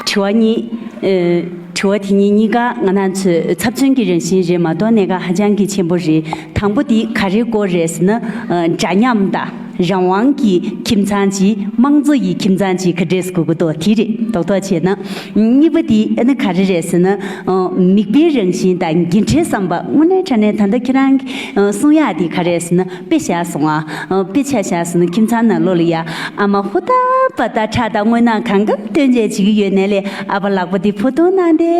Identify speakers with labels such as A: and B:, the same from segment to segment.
A: དྲི་བ་གཉིས། དྲི་བ་དེ་གཉིས་གཉིས་ཀ་ང་ནང་ཚོས་ཚབ་མཚོན་གྱི་རང་བཞིན་རེད་མ་གཏོགས་གནད་འགག་ཧ་ཅང་གི་ཆེན་པོ་རེད་དང་པོ་དེ་ག་རེ་སྐོར་རེད་ཟེར་ན། འདྲ་མཉམ་དང་རང་དབང་གི་ཁྱིམ་ཚང་ཅིག་དམངས་གཙོ་ཡི་ཁྱིམ་ཚང་ཅིག་ག་རེ་བཟོ་དགོས་དགོས་དེ་རེད་རྡོག་རྡོག་བྱས་ན། གཉིས་པ་དེ་ཨ་ནི་ག་རེ་རེད་ཟེར་ན། མིག་དཔེའི་རང་བཞིན་དང་འགན་འཁྲིའི་བསམ་པ་དངོས་གནས་དྲ་གནས་ད་ལྟ་ཁྱེད་རང་གསུང་ཡག་དེ་ག་རེད་ཟེར་ན། དཔེ་ཆ་སོང་ཨ། དཔེ་ཆ་བཞག་ཟིན་ན་ཁྱིམ་ཚང་ནང་ལོག་ལ་ཡ་ཨ་མ་ཧུ་ད་པ་ད་ཁྲག་དང་དངོས་སྣང་གང་འགབ་སྟོན་མཇལ་བྱེད་ཀྱི་ཡོད་ནལ་ལེ་ཨ་བ་ལགས་པོ་འདི་ཕུ་ཐུང་ནང་དེ་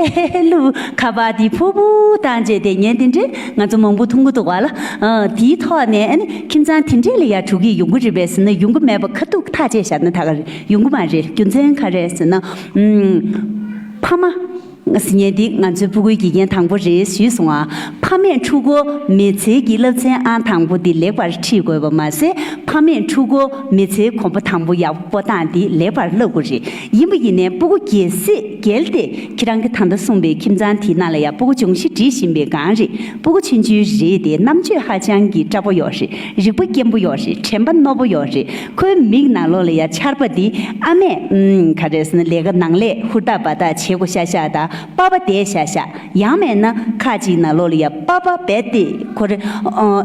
A: ལུ་ཁ་བ་དེ་ཕུ་བོ་དང་བཅས་དེ་ཉན་དེ་འདྲས་ང་ཚོ་མང་པོ་མཐོང་གི་འདུག་བ་ལ་དེའི་ཐོག་ནས་ཨ་ཁྱིམ་ཚང་དེ་འདྲས་ལ་ཡ་དྲུག་གིས་ཡོང་གི་རེད་པས་ཟིན་ན་ཡོང་གི་མེད་པ་ཁ་ཐུག་ཐག་བཅད་བཞག་ན་ད་ག་རེ་ཡོང་གི་མ་རེད་རྒྱུ་མཚན་ག་རེ་ཟིན་ན་ཕ་མ། ངས་ཉལ་འདི་ང་ཚོའི་སྤུ་གུའི་དགེ་རྒན་དང་པོ་རེད་ཞུས་སོང་ཨ་ཕ་མས་ཕྲུ་གུ་མེད་ཚེ་གྱི་སློབ་ཚན་ཨང་དང་པོ་འདི་ལེགས་པར་ཁྲིད་དགོས་པ་མ་ཟད་ཕ་མས་ཕྲུ་གུ་མེད་ཚེ་གོམ་པ་དང་པོ་ཡག་པོ་སྟངས་འདི་ལེགས་པར་བསླབ་དགོས་རེད་ཡིན་པ་ཡིན་ནས་སྤུ་གུ་གལ་སྲིད་འགྱེལ་ཏེ་ཁྱེད་རང་གི་ད་ལྟ་གསུངས་པའི་ཁྱིམ་ཚང་དེའི་ནང་ལ་ཡང་སྤུ་གུ་ཅུང་ཞིག་འདྲིས་བཞིན་པའི་སྒང་རེད་སྤུ་གུ་ཆུན་ཆུན་རེད་དེ་རྣམ་དཔྱོད་ཧ་ཅང་གི་སྐྲ་པོ་ཡོག་རེད་རིག་པ་སྐྱེན་པོ་ཡོག་རེད་དྲན་པ་རྣོ་པོ་ཡོག་རེད། ཁོའི་མིག་ནང་ལོགས་ལ་ཡ་ཆར་པ་འདི་ཨ་མས་ཨུམ། ག་རེ་ཟེར་ན་ལས་ཀ་ནང་ལས་ཧུར་ཐག་འབའ་ཐག་བྱེད་གོ་ཤ་ཤ་དང་པ་པ་དེད་ཤ་ཤ། ཡང་མེད་ན་ཁ་ཅིག་ནང་ལོགས་ལ་ཡ་པ་པ་བེད་དེ་ཁོ་རེ་ཨོ།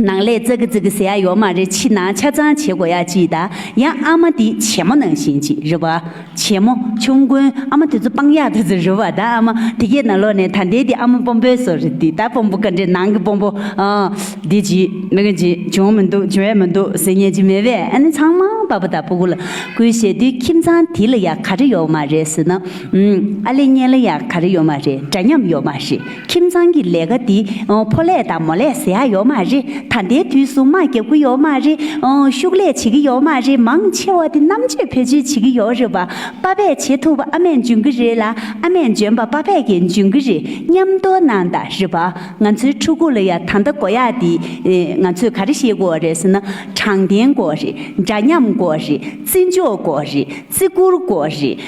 A: ནང་ལས་ཙག་གི་ཙག་གི་ཟེར་ཡ་ཡོག་མ་རེ་ཕྱི་ནང་ཆ་ཚང་བྱེད་གོ་ཡ་ཅིག་དང་ཡང་ཨ་མ་འདི་བྱེད་མོ་ནང་བཞིན་ཅིག་རེ་བ། བྱས་མོ། ཆུང་དགོན་ཨ་མ་དེ་ཚོ་སྤང་ཡག་དེ་ཚོ་རུལ་བ་ད་ཨ་མ་དེ་གས་ན་ལོ་ནས་ད་འདས་དེ་ཨ་མ་སྤོམ་པོའི་སོ་རེད་དེ་ད་སྤོམ་པོ་ག་འདྲའི་ནང་གི་སྤོམ་པོ་ཨ་འདས་ཀྱི་མི་ག་འདྲའི་བྱུང་མི་འདུག་བྱུང་ཡ་མི་འདུག་ཟེར་ཉན་གྱི་མེད་པས་ཨ་ནི་ཚང་མ་པ་པོ་ད་པོ་གུ་ལ་གུའི་བྱས་དུས་ཁྱིམ་ཚང་དེ་ལ་ཡག་ག་རེ་ཡོག་མ་རེད་ཟེར་ན་ཨ་ལས་གཉེན་ལ་ཡག་ག་རེ་ཡོག་མ་རེད་འདྲ་མཉམ་ཡོག་མ་རེད། ཁྱིམ་ཚང་གི་ལས་ཀ་འདི་ཕོ་ལས་དང་མོ་ལས་ཟེར་ཡག་ཡོད་མ་རེད་ད་ལྟའི་དུས་སུ་དམག་རྒྱག་གི་ཡོད་མ་རེད་ཤུགས་ལས་བྱེད་ཀྱི་ཡོད་མ་རེད་མང་ཆེ་བ་དེ་རྣམ་དཔྱོད་བེད་སྤྱོད་བྱེད་ཀྱི་ཡོད་རེད་པ་པ་པས་བྱེད་ཐུབ་པ་ཨ་མས་འཇོན་གྱི་རེད་ལ་ཨ་མས་འཇོན་པ་པ་པས་ཀྱི་འཇོན་གྱི་རེད་མཉམ་སྡོ་ན་ད་རེད་པ་ང་ཚོའི་ཕྲུ་གུ་ལ་ཡ་ད་ཟླ་གོ་ཡ་འདི་ང་ཚོས་ག་རེ་བཤད་དགོས་རེད་ཟེར་ན་དྲང་བདེན་གོ་རེད་འདྲ་མཉམ་གོ་རེད། བརྩི་འཇོག་དགོས་རེད་བརྩི་བཀུར་དགོས་རེད།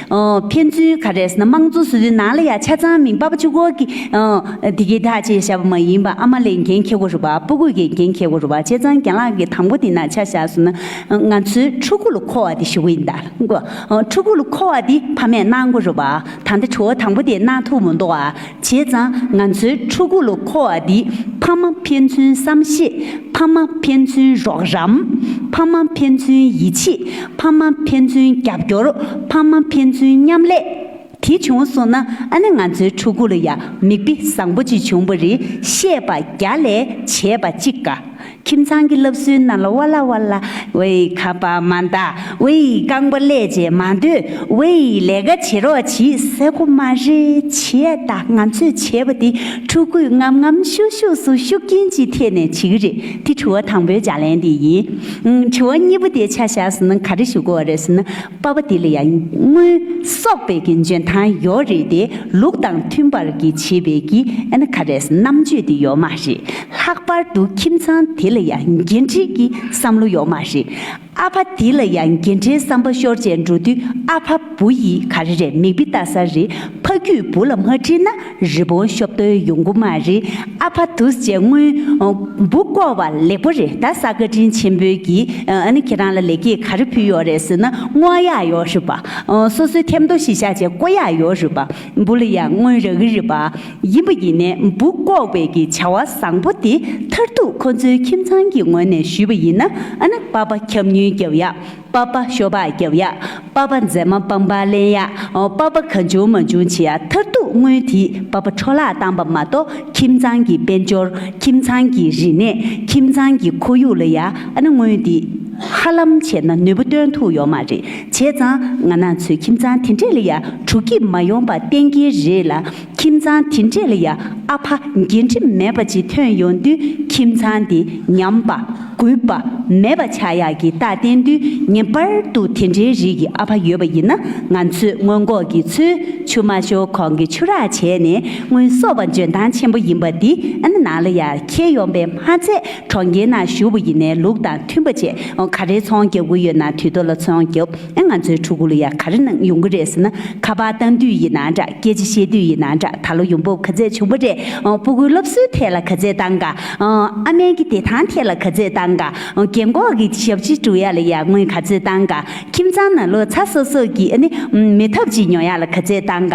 A: ཕན་ཚུན་ག་རེས་ན་དམངས་གཙོ་སྲིད་དོན་ནང་ལ་ཡང་ཆ་ཚང་མིན་པ་བཅུ་སྐོར་གྱི་དེ་གི་དག་ཅེས་བྱ་བ་མ་ཡིན་པ་ཨ་མ་ལས་འགན་འཁྱེར་དགོས་རུ་བ་སྤུ་གུས་ཀྱི་འགན་འཁྱེར་དགོས་རུ་བ་བྱས་ཙང་རྒན་ལགས་ཀྱི་དང་པོ་དེ་ནང་ཆ་བཞག་སོང་ན་ང་ཚོའི་ཕྲུ་གུ་ལ་མཁོ་བ་དེ་ཞུ་གི་ཡིན་ད་ཕྲུ་གུ་ལ་མཁོ་བ་དེ་ཕ་མས་གནང་དགོས་རུ་བ་ད་ལྟ་ཁྲོ་བོ་དང་པོ་དེས་གནང་ཐུབ་མི་འདུག་ཨ། བྱས་ཙང་ང་ཚོའི་ཕྲུ་གུ་ལོ་མཁོ་བ་འདིས་ཕ་མ་ཕན་ཚུན་བསམ་ཤེས། ཕ་མ་ཕན་ཚུན་རོགས་རམ། ཕ་མ་ཕན་ཚུན་ཡིད་ཆེས། ཕ་མ་ཕན་ཚུན་རྒྱབ་སྐྱོར། ཕ་མ་ཕན་ཚུན་མཉམ་ལས། དེ་བྱུང་སོང་ན་ཨ་ནེ་ང་ཚོའི་ཕྲུ་གུ་ལ་ཡང་མིག་དཔེ་བཟང་པོ་ཅིག་བྱུང་བ་རེད་བཤད་པ་བརྒྱ་ལས་བྱས་པ་གཅིག་དགའ། ཁྱིམ་ཚང་གི་སློབ་གསོའི་ནང་ལ་བ་ལ་བ་ལ་བོད་ཡིག་ཁ་པར་མ་འདག་བོད་ཡིག་རྐང་པ་ཀླད་ཅན་མ་འདོད་བོད་ཡིག་ལས་ཀ་བྱེད་རོགས་གྱིས་ཟེར་གོ་མ་རེད་བྱས་ད་ང་ཚོས་བྱས་པ་དེ་ཕྲུ་གུས་ངམ་ངམ་ཤུགས་ཤུགས་སུ་ཤུགས་རྐྱེན་གྱི་ཐད་ནས་བྱེད་གི་རེད་དེ་དྲི་བ་དང་པོའི་ལྗགས་ལན་དེ་ཡིན། དྲི་བ་གཉིས་པོ་དེ་ཆ་བཞག་ཟིན་ན་ག་རེ་ཞུ་དགོས་བ་རེད་ཟེར་ན། པ་བ་དེ་ལ་ཡང་སྔོན་སོག་པའི་གྱི་འཇོན་ཐང་ཡོད་རེད་དེ་ལུགས་དང་མཐུན་པར་གྱི་བྱེད་པའི་གྱི་ཨེ་ན་ཁ་རས་རྣམ་དཔྱོད་དེ་ཡོད་མ་རེད་ལྷག་པར་དུ་ཁྱིམ་ཚང་དེ་ལ་ཡང་འགན་འཁྲིའི་གྱི་བསམ་བློ་ཡོད་མ་རེད་ཨ་ཕ་དེ་ལ་ཡང་འགན་འཁྲིའི་བསམ་པ་ཤོར་བྱས་འགྲོ་དུས་ཨ་ཕ་བུ་ཡིས་ག་རེ་རེད་མིག་དཔེ་བལྟ་ས་རེད་ཕ་རྒྱུད་བུ་ལ་མ་ཁྲིད་ན་རི་བོང་གཤོབ་ཏོའི་ཡོང་སྒོ་མ་རེད་ཨ་ཕ་དུས་བཅད་སྔོན་སྦུག་བསྐོར་བ་ལེགས་པོ་རེད་ད་ས་བཀའ་དྲིན་ཆེན་པོས་གི་ཨ་ནི་ཁྱེད་རང་ལ་ལེགས་སྐྱེས་ག་རེ་ཕུལ་ཡོད་རེད་ཟེར་ན་སྔོན་ཡག་ཡོད་རེད་པ་སོ་སོའི་ཐེམ་ཐོ་ཞིག་བཞག་བྱས་ཀོ་ཡག་ཡོད་རེད་པ་འབུ་ལ་ཡང་སྔོན་རག་གི་རེད་པ་ཡིན་པ་ཡིན་ནས་སྦུག་བསྐོར་བའི་གི་བྱ་བ་བཟང་པོ་དེ་མཐར་ཐུག་ཁོ་ཚོའི་ཁྱིམ་ཚང་གི་ངོས་ནས་ཞུས་པ་ཡིན་ན་ཨ་ན་པ་པ་ཁྱབ་མྱུལ་རྒྱབ་ཡག་པ་པ་ཤོ་པ་རྒྱབ་ཡ། པ་པ་མཛེས་མ་སྤང་པ་གླན་ཡ། པ་པ་ག་འབྱུང་མ་འབྱུང་བྱེད་ཡ་མཐར་གཏུགས་དངུལ་དེས་པ་པ་འཕྲོ་བརླག་བཏང་པ་མ་གཏོགས་ཁྱིམ་ཚང་གི་དཔལ་འབྱོར་ཁྱིམ་ཚང་གི་རིག་གནས་ཁྱིམ་ཚང་གི་ཁོར་ཡུག་ལ་ཡ་ན་དངུལ་འདི་ཧ་ལམ་བྱས་ན་ནུས་པ་སྟོན་ཐུག་ཡོག་མ་རེད་བྱས་ཙང་ང་ནག་ཚོའི་ཁྱིམ་ཚང་དེ་འདྲས་ལ་ཡ་དྲུག་གིས་མ་ཡོང་པ་གཏན་འཁེལ་རེད་ལ། ཁྱིམ་ཚང་དེ་འདྲས་ལ་ཡ་ཨ་ཕ་རྒན་དྲི་མེད་པ་ཅིག་ཐོན་ཡོང་དུས་ཁྱིམ་ཚང་འདི་ཉམས་པ་རྒུད་པ་མེད་པ་ཆགས་ཡག་གི་རྟགས་བསྟན་དུས་ངེས་པར་དུ་དེ་འདྲའི་རིགས་ཀྱི་ཨ་ཕ་ཡོད་པ་ཡིན་ན་ང་ཚོས་སྔོན་འགོག་གི་ཚུལ་ཆུ་མ་ཤོར་གོང་གི་ཆུ་རགས་བྱས་ནས་སྔོན་གསོ་བ་འཇོན་ཐང་ཆེན་པོ་ཡིན་པ་འདི་ཨ་ནེ་ནང་ལ་ཡར་འཁྱེར་ཡོང་པའི་མ་ཚད་གྲོང་ཁྱེར་ནང་བཞུགས་པ་ཡིན་ནའི་ལུགས་དང་མཐུན་པ་བྱེད་ག་རེ་ཚོང་རྒྱག་གི་ཡོད་ན་དུས་ཐོག་ལ་ཚོང་རྒྱབ། ཨེ་ང་ཚོའི་ཕྲུ་གུ་ལ་ཡང་ག་རེ་གནང་ཡོང་གི་རེད་ཟེར་ན་ཁ་པར་བཏང་དུས་ཡིན་ན་འདྲ་སྐད་ཆ་བཤད་དུས་ཡིན་ན་འདྲ་ད་ལོ་ཡོང་འབབ་ག་ཚད་བྱུང་བ་རེད་སྤོ་གུའི་སློབ་གསོའི་ཐད་ལ་ག་ཚད་བཏང་ག་ཨ་མན་གྱི་བདེ་ཐང་ཐད་ལ་ག་ཚད་བཏང་ག་རྒན་འཁོགས་ཀྱི་ཞབས་ཕྱི་བྲོ་ཡ་ལ་ཡང་དངུལ་ག་ཚད་བཏང་ག་ཁྱིམ་ཚང་ན་ལོ་ཚ་སོ་སོ་ཀྱི་ཨ་ནི་མེད་ཐབས་ཅིག་ཉོ་ཡ་ལ་ག་ཚད་བཏང་ག།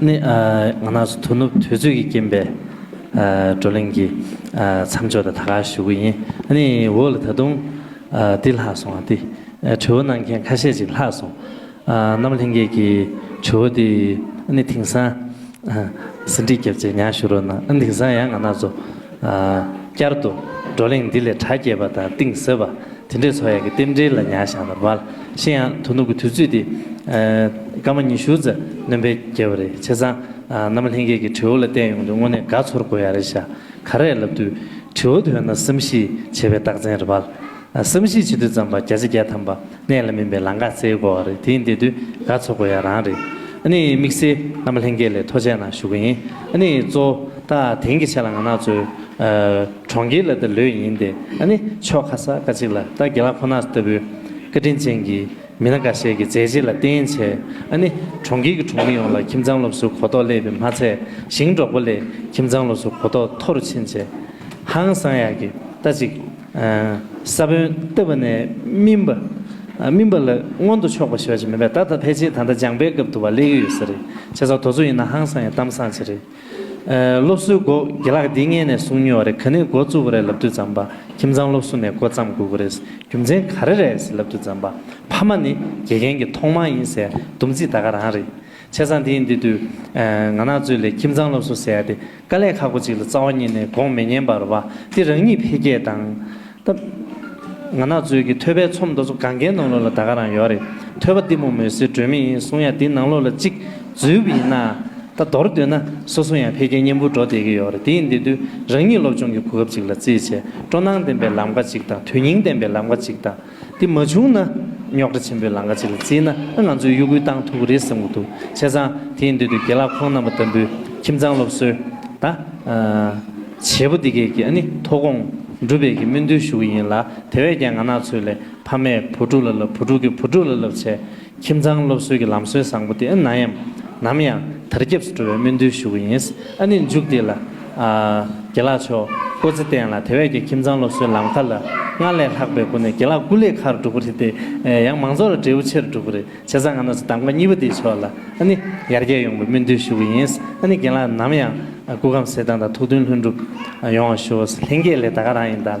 B: ནི། ང་ནགས་སུ་དོ་ནུབ་དུས་ཚོད་ཀྱི་རྐྱེན་པས་བགྲོ་གླེང་གི་མཚམས་འཇོག་དང་ད་གར་ཞུ་གི་ཡིན། ནི། འོ་ལ་ད་དུང་འདི་ལྷག་སོང་བ་འདི། དྲི་བ་གནང་མཁན་ཁ་ཤས་ཅིག་ལྷག་སོང། རྣམ་ལྷན་རྒྱས་ཀྱི་དྲི་བ་འདི། ནི། དེང་སང། ཟིན་བྲིས་བརྒྱབ་རྗེས་ཉར་ཞུ་རོགས་གནང། དེང་སང་ཡང་ང་ནགས་སུ། བསྐྱར་དུ་བགྲོ་གླེང་འདི་ལས་གྲ་རྒྱས་པ་དང་གཏིང་ཟབ་པ་དེ་འདྲའི་ཚོགས་ཡག་གི་རྟེན་འབྲེལ་ལ་ཉག་ཞག་ལ་མ་ཤི་ཡང་དོ་ནུབ་ཀྱི་དུས་ཚོད་འདི་སྐར་མ་ཉི་ཤུ་རྩ་གནོན་པའི་རྒྱལ་བ་རེད་བྱས་ཙང་ནམ་ལྷན་རྒྱས་ཀྱི་དྲེའུ་ལ་བལྟས་ཡོང་དུས་དངོས་གནས་དགའ་ཚོར་དགོས་ཡ་རེད་ཤ་ཁ་རས་ལབ་དུས་དྲེའུ་དོན་ན་བསམ་གཞིག་བྱེད་པའི་རྟགས་མཚན་རེད་བསམ་གཞིག་བྱེད་དུས་ཙམ་པ་བརྒྱ་ཆ་བརྒྱ་ཐམ་པ། གནད་ལ་མིན་པའི་ལང་ཀ་རྩེའི་སྒོ་བ་རེད་དེ་འདི་དུས་དགའ་ཚོགས་སྒོ་ཡ་རང་རེད་ཨཱ་ནི་དམིགས་བསལ་རྣམ་པ་ལྷན་རྒྱས་ལས་ཐོ་ཆད་ན་ཞུ་གི་ཡིན་ཨཱ་ནི་གཙོ་བོ་ད་དེང་གི་ཆད་ལ་ང་ནག་ཚོའི་གྲོང་ཁྱེར་ལ་ད་ལོས་ཡིན་ཏེ་ཨཱ་ནི་ཕྱོགས་ཁ་གསར་ཀ་ཅིག་ལ་ད་དགེ་ལག་ཁོ་ནག་ལྟ་བུའི་བཀའ་དྲིན་ཅན་གྱི་མི་སྣ་འགའ་ཤས་ཀྱི་མཛད་རྗེས་ལ་བརྟེན་བྱས་ཨཱ་ནི་གྲོང་ཁྱེར་གྱི་གྲོང་མི་ཡོངས་ལ་ཁྱིམ་ཚང་སློབ་གསོའི་གོ་རྟོགས་སླེབས་པའི་མ་ཚད་ཞིང་འབྲོག་པ་ལས་ཁྱིམ་ཚང་སློབ་གསོའི་གོ་རྟོགས་མཐོ་རུ་ཕྱིན་ཆེད་ཧང་སང་ཡག་གི་ལྟ་ཅིག། ས་བོན་བཏབ་པ་ནས་སྨིན་པ། སྨིན་པ་ལ་མངོན་དུ་ཕྱོགས་པ་ཞེས་པ་ཅིག་མིན་པས་ད་ལྟ་ཕལ་ཆེར་ད་ལྟ་སྦྱངས་པའི་སྐབས་དུ་བ་ལས་ཀྱི་ཡོད་ས་རེད་ཆེ་ས་དོ་ཚོ་ཡིན་ན་ཧང་སང་ཡང་གཏམ་སང་ཆེ་རེད། སློབ་གསོའི་སྒོ་དགེ་ལགས་འདི་སྔས་ནས་གསུང་མྱོས་བ་རེད་ག་ནས་འགོ་བཙུགས་པ་རེད་ལབ་དུས་ཛམ་བྷ་ཁྱིམ་ཚང་སློབ་གསོ་ནས་འགོ་བརྩམས་དགོས་གི་རེད་རྒྱུ་མཚན་ག་རེ་རེད་ཟེར་ལབ་དུས་ཛམ་བྷ་ཕ་མ་ནི་དགེ་རྒན་གྱི་ཐོག་མང་ཡིན་ཟེར་འདུམ་ཚིག་ད་ག་རང་རེད། ཆེ་ས་འདིའི་འདི་དུས་ང་ནག་ཚོས་ལས་ཁྱིམ་ཚང་སློབ་གསོ་ཟེར་ཏེ་དཀའ་ལས་ཁག་པོ་ཅིག་ལ་རྩ་བ་ཉིད་ནས་དགོངས་མི་ཉན་པར་བ་དེ་རང་ཉིད་འཕེལ་རྒྱས་དང། སྟབས། ང་ནག་ཚོས་ཀྱི་ཐོད་པའི་ཚོམ་མདོ་ཚོ་གང་གའི་ནང་ལོགས་ལ་ད་ག་རང་ཡོད་རེད་ཐོད་པ་གཏི་མུག་མོས་སེར་སྒྲོན་མེ་ཡིན་གསུང་ཡ་དེ་ནང་ལོགས་ལ་གཅིག་འཛུལ་བ་ཡིན་ན། ད་མདོར་བསྡུས་ན་སོ་སོ་ཡང་འཕེལ་རྒྱས་སྙན་པོ་འགྲོ་བསྡད་ཀྱི་ཡོད་རེད་དེའི་འདི་དུས་རང་ཉིད་སློབ་སྦྱོང་གི་གོ་སྐབས་ཅིག་ལ་རྩིས་བྱས་སྤྲོ་སྣང་ལྡན་པའི་ལམ་ཁ་ཅིག་དང་དོན་སྙིང་ལྡན་པའི་ལམ་ཁ་ཅིག་དང། དེ་མ་བྱུང་ན་རྙོག་དྲ་ཆེན་པོའི་ལང་ཀ་ཅིག་ལ་བརྩིས་ན་ང་ཚོས་གཡོ་སྒུལ་བཏང་ཐུབ་ཀྱི་རེད་བསམ་གྱི་འདུག་བྱས་ཙང་དེའི་མདུན་དུ་དགེ་ལགས་ཁོང་རྣམ་པ་ལྟ་བུའི་ཁྱིམ་ཚང་སློབ་གསོའི་ད་བྱེད་པོ་འདི་གས་ཀྱི་ནི་མཐོ་དགོངས་འགྲུབ་པའི་གྱི་སྨོན་འདུན་ཞུ་གི་ཡིན་ལ་དེ་བས་ཀྱང་ང་ནག་ཚོས་ལས་ཕ་མས་བུ་ཕྲུག་ལ་ལབ་བུ་ཕྲུག་གིས་བུ་ཕྲུག་ལ་ལབ་བྱས་ཁྱིམ་ཚང་སློབ་གསོའི་གི་ལམ་སྲོལ་བཟང་པོ་དེ་ཨ་ན་ཡམ་ནམ་ཡང་དར་ཁྱབ་སུ་འགྲོ་བའི་སྨོན་འདུན་ཞུ་གི་ཡིན། ཨ་ནི་མཇུག་དེ་ལ། དགེ་ལགས་མཆོག་བཀོད་རྩི་བསྟན་ལ་དེ་བས་ཀྱི་ཁྱིམ་ཚང་སློབ་གསོའི་ལམ་ཁ་ལ་སྔར་ལས་ལྷག་པའི་སྒོ་ནས་དགེ་ལགས་སྐུ་ལས་ཁག་སྒྲུབ་པོ་རེད་དེ། ཡང་མང་ཚོགས་ལ་འབྲས་བུ་ཆེར་འགྲུབ་པོ་རེད་བྱས་ཙང་ང་ནོར་སྲིད་གདམ་ག་གཉིས་པོ་དེའི་ཕྱོགས་ལ་ཨ་ནི་ཡར་རྒྱས་ཡོང་པའི་སྨོན་འདུན་ཞུ་གི་ཡིན། ཨ་ནི་དགེ་ལགས་ནམ་ཡང་སྐུ་ཁམས་གསལ་ཐང་དང་ཐུགས་མཐུན་ལྷུན་འགྲུབ་ཡོང་བ་ཞུ། ལྷན་རྒྱས་ལས་ད་ག་རང་ཡིན་ད།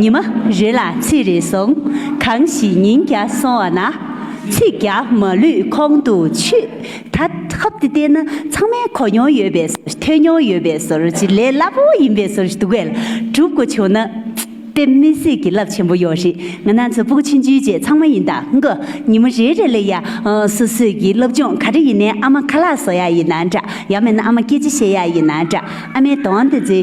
A: ཉི་མ་རེ་ལ་ཚིག་རེ་གསུང། གང་ཞིག་ཉིན་བརྒྱ་སོང་བ་ན། ཚིག་བརྒྱ་མ་ལུས་ཁོང་དུ་ཆུད། ད་ཧབ་ཏུ་བལྟས་ན་ཚང་མས་གོ་མྱོང་ཡོད་པའི་ཟོར་ཐོས་མྱོང་ཡོད་པའི་ཟོར་གྱི་ལས་སླ་པོ་ཡིན་པའི་ཟོར་ཞིག་འདུག་བལ་སྒྲུབ་གོ་བྱུང་ན། དཔེ་མི་སྲིད་ཀྱི་རླབས་ཆེན་པོ་ཡོད་རེད་ང་ནང་ཚོ་པུག་ཕྱིན་རྒྱུའི་རྗེས་ཚང་མ་ཡིན་དང་མགོ་ཉི་མ་རེ་རེ་ལ་ཡ་སོ་སོས་ཀྱི་སློབ་སྦྱོང་ག་རེ་ཡིན་ནའི་ཨ་མ་ཁ་ལག་བཟོ་ཡ་ཡིན་ན་འདྲ་ཡང་མེད་ན་ཨ་མ་སྐད་ཅིག་བཤད་ཡ་ཡིན་ན་འདྲ་ཨ་མའི་གདོང་དེ་ཚོའི།